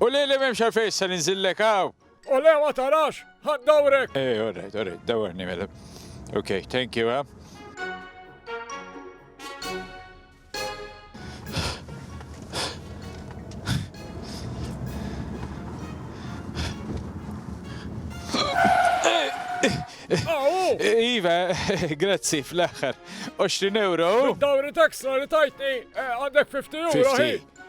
U lili m'hemmx għalfejn issa ninżillek hawn. O le ma tarax, ħadd dawrek! Eh, all right, all right, dawrni mela. Okay, thank you, eh? Iva, grazzi fl-axħar. 20 euro. Dawri taxra li tajtni eh, għandek 50 euro.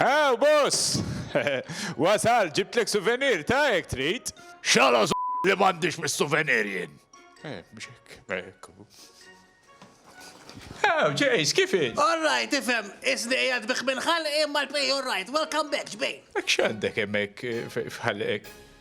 Haw boss! Wasalt, ġibtlek suvenir, ta' jekk trid. X'għala li m'għandix mis-suvenir jien? Eh, mhux hekk, hekk hu. Haw, Jace, kif hi? All right, ifhem, isni qiegħed bih minn ħalqi imma l-pej all right. Welcome back, ġbejn. Hekk x'għandek hemmhekk f'ħalqek?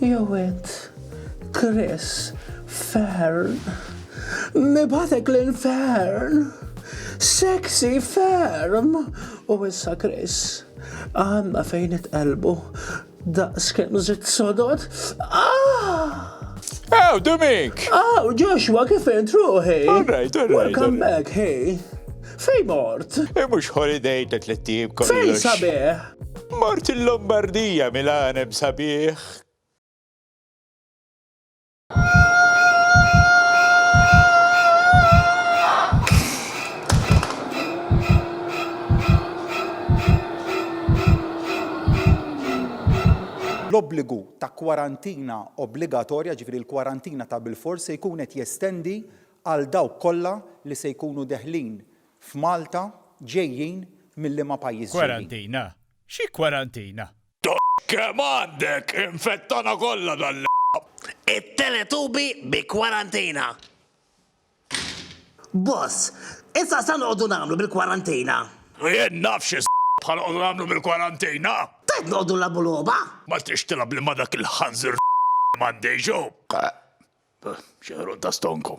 Jew int, Chris Fearn, nibgħatek lil Fearn! Sexy ferm! U issa Chris, għandna fejn nitqelbu daqs kemm żitt sodod. Ah! Oh, Domink! Oh, Joshua, kif int ruħi? All right, all right. Welcome back, hey. Fej mort? E mux holiday ta' tlettib kollox. Fej sabiħ? Mort il-Lombardija mill-għaneb sabiħ. L-obbligu ta' kwarantina obbligatorja, ġifieri l-kwarantina ta' bilfors, se jkun qed jestendi għal dawk kollha li se jkunu deħlin F'Malta ġejjin minn liema pajjiż ġejjin? Kwarantina? Xi kwarantina? Kemm għandek! Infettana kollha dan l. It-Teletubi bi kwarantina! Boss, issa x'għanqogħdu nagħmlu bil-kwarantina? Jien naf xi ħanqogħdu nagħmlu bil-kwarantina! Tgħid noqogħdu nlagħbu logħba? Ma tridx tilgħab li ma dak il-ħanżir Mandeju? Xi ħruq ta' stonku.